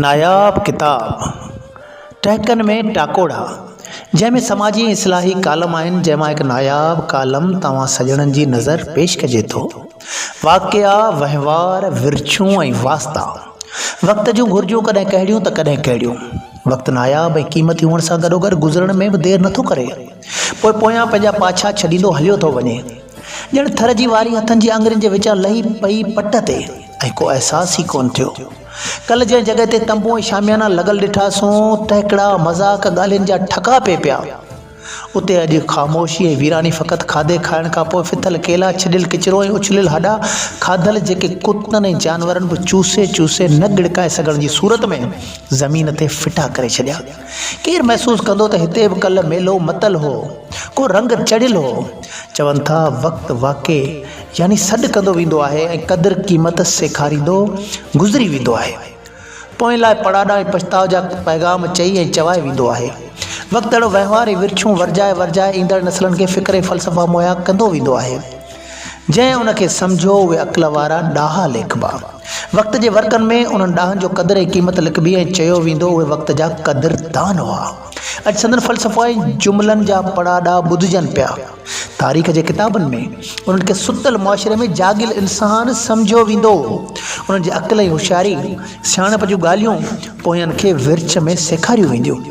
ناياب ڪتاب ٽهڪن ۾ ٽاڪوڙا جنهن ۾ سماجي اصلاحي ڪالم آهن جنهن مان هڪ ناياب ڪالم توهان سڄڻن جي نظر پيش ڪجي ٿو واقعا وهنوار ورڇون ۽ واسطا وقت جون گهرجون ڪڏهن ڪهڙيون ته ڪڏهن ڪهڙيون وقت ناياب ۽ قيمتي هئڻ سان گڏوگڏ گذرڻ ۾ به دير نٿو ڪري پوء پويان پنهنجا پاڇا ڇڏيندو هليو ٿو وڃي ڄڻ ٿر جي واري هٿن جي آڱرين جي وچان لهي پئي پٽ تي ۽ ڪو احساس ئي ڪونه ٿيو. ڪلهه جنهن جڳهه تي تنبو ۽ شاميانا لڳل ڏٺاسون، ٽهڪڙا، مذاق، ڳالهين جا ٺڪا پئي پيا. اتي اڄ خاموشي ۽ ويراني فقط کاڌي کائڻ کان پوء ڦٿل ڪيلا، ڇڏيل ڪچرو ۽ اڇليل هڏا کاڌل جيڪي ڪتن ۽ جانورن به چوسي چوسي نه ڳڙڪائي سگهڻ جي صورت ۾ زمين تي ڦٽا ڪري ڇڏيا. ڪير محسوس ڪندو ته هتي به ڪلهه ميلو متل هو، ڪو رنگ چڙهيل هو. چون ٿا وقت واقعي يعني سڏ ڪندو ويندو آهي ۽ قدر قيمت سيکاريندو گذري ويندو آهي. پوئين لاء پڙاڏا ۽ پڇتاء جا پيغام چئي ۽ چوائي ويندو آهي. وقت اهڙو وهنوار ۽ ورڇون ورجائي ورجائي ايندڙ نسلن کي فڪر ۽ فلسفا مهيا ڪندو ويندو آهي. جنهن ان کي سمجهيو اهي عقل وارا ڏاها ليکبا. وقت جي ورقن ۾ انهن ڏاهن جو قدر ۽ قيمت لکبي ۽ چيو ويندو اهي وقت جا قدردان هئا. اڄ سندن فلسفا ۽ جملن جا پڙاڏا ٻڌجن پيا. تاريخ جي ڪتابن ۾ انهن کي ستل معاشري ۾ جاڳيل انسان سمجهيو ويندو. انهن جي عقل ۽ هوشياري، سياڻپ جون ڳالهيون پويان کي ورڇ ۾ سيکاريون وينديون.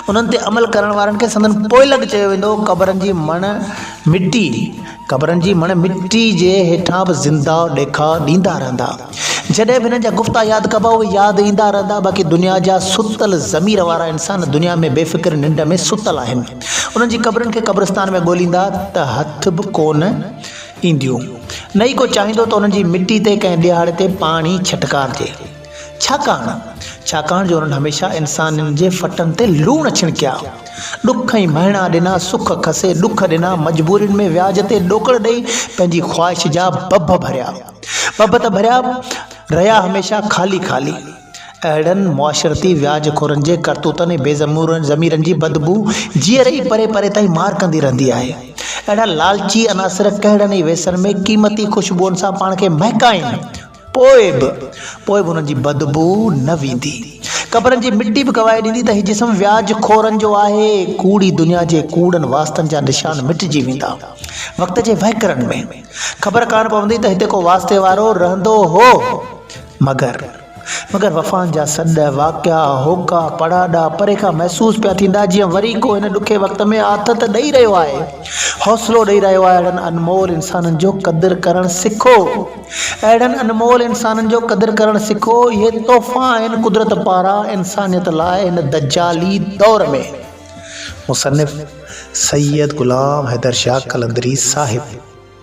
انهن تي عمل ڪرڻ وارن کي سندن پوئلڳ چيو ويندو هو قبرن جي مڻ مٽي قبرن جي مڻ مٽي جي هيٺان به زنده ڏيکاء ڏيندا رهندا جڏهن به هنن جا گفتا ياد ڪبا اهي ياد ايندا رهندا باقي دنيا جا ستل ضمير وارا انسان دنيا ۾ بي فڪر ننڊ ۾ ستل آهن انهن جي قبرن کي قبرستان ۾ ڳوليندا ته هٿ به ڪونه اينديون نه ئي ڪو چاهيندو ته انهن جي مٽي تي ڪنهن ڏيهاڙي تي پاڻي ڇٽڪارجي ڇاڪاڻ، ڇاڪاڻ جو انهن هميشه انسانن جي ڦٽن تي لوڻ ڇڻڪيا، ڏک ۽ مهڻا ڏنا، سک کسي ڏک ڏنا، مجبورين ۾ وياج تي ڏوڪڙ ڏئي پنهنجي خواهش جا ڀڀ ڀريا. ڀڀ ته ڀريا، رهيا هميشه خالي خالي. اهڙن معاشرتي وياج خورن جي ڪرتوتن ۽ بي ضميرن جي بدبو جيئري ئي پري پري تائين مار ڪندي رهندي آهي. اهڙا لالچي عناصر ڪهڙن ئي ويسن ۾ قيمتي خوشبوئن سان پاڻ کي مهڪائين، پوء به، پوء به انهن جي بدبوء نه ويندي. قبرن جي مٽي به گواهي ڏيندي ته هي جسم وياج خورن جو آهي. ڪوڙي دنيا جي ڪوڙن واسطن جا نشان مٽجي ويندا. وقت جي وهڪرن ۾، خبر ڪانه پوندي ته هتي ڪو واسطي وارو رهندو هو. مگر، مگر وفائن جا سڏ، واقعا، هوڪا، پڙاڏا، پري کان محسوس پيا ٿيندا، جيئن وري ڪو هن ڏکي وقت ۾ آٿت ڏئي رهيو آهي. حوصلو ڏئي رهيو آهي. اهڙن انمول انسانن جو قدر ڪرڻ سکو. اهڙن انمول انسانن جو قدر ڪرڻ سکو، اهي تحفا آهن قدرت پاران انسانيت لاء هن دجالي دور ۾. مصنف، سيد غلام حيدر شاهه قلندري صاحب.